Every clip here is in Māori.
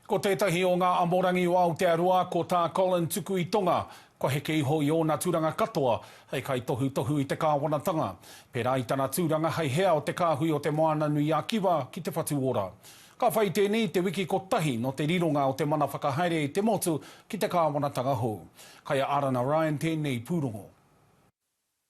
Ko tētahi o ngā amorangi o Aotearoa, ko tā Colin tuku i Tonga, kua heke iho i ōna turanga katoa hei kaitohutohu i te kāwanatanga, pērā i tana tūranga hei hea o te kāhui o Te Moana-nui-a-Kiwa ki Te Whatu Ora. Ka whai tēnei i te wiki kotahi nō te rironga o te mana whakahaere i te motu ki te kāwanatanga hou. Kai a Arana Ryan tēnei pūrongo.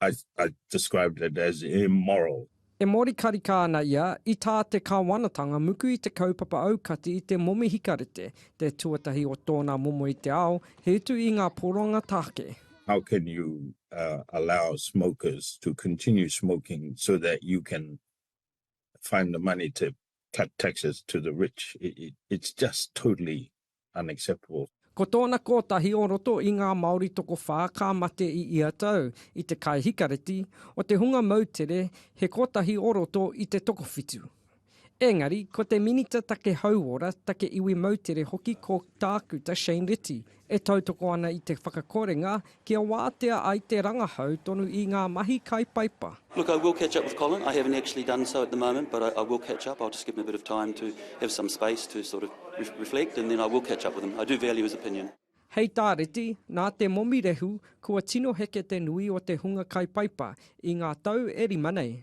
I described it as immoral. E mōrikarika ana ia i tā te Kāwanatanga muku i te kaupapa aukati i te momi hikarete, te tuatahi o tōna momo i te ao, he utu i ngā poroanga tāke. How can you allow smokers to continue smoking so that you can find the money to cut taxes to the rich? It's just totally unacceptable. Ko tōna kōtahi o roto i ngā Māori tokowhā ka mate i ia tau, i te kai hikareti, o te hunga moutere, he kōtahi o roto i te tokowhitu. Engari, ko te Minita Take Hauora, Take Iwi Moutere hoki ko Tākuta Shane Reti e tautoko ana i te whakakorenga Kia wātea ai te rangahau tonu i ngā mahi kai paipa. Look I will catch up with Colin, I haven't actually done so at the moment but I will catch up, I'll just give him a bit of time to have some space to sort of reflect and then I will catch up with him, I do value his opinion. Hei tā Reti, nā te momi rehu kua tino heke te nui o te hunga kai paipa i ngā tau e rima nei.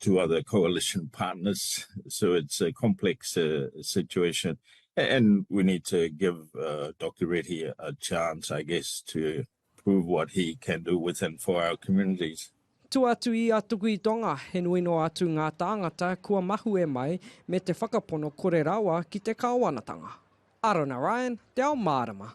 two other coalition partners, so it's a complex situation and we need to give Doctor Reti a chance I guess to prove what he can do with and for our communities. Tua atu i a Tuku i Tonga, he nui noa atu ngā tāngata kua mahue mai me te whakapono kore rawa ki te Kāwanatanga. Arona Ryan, Te Ao Mārama.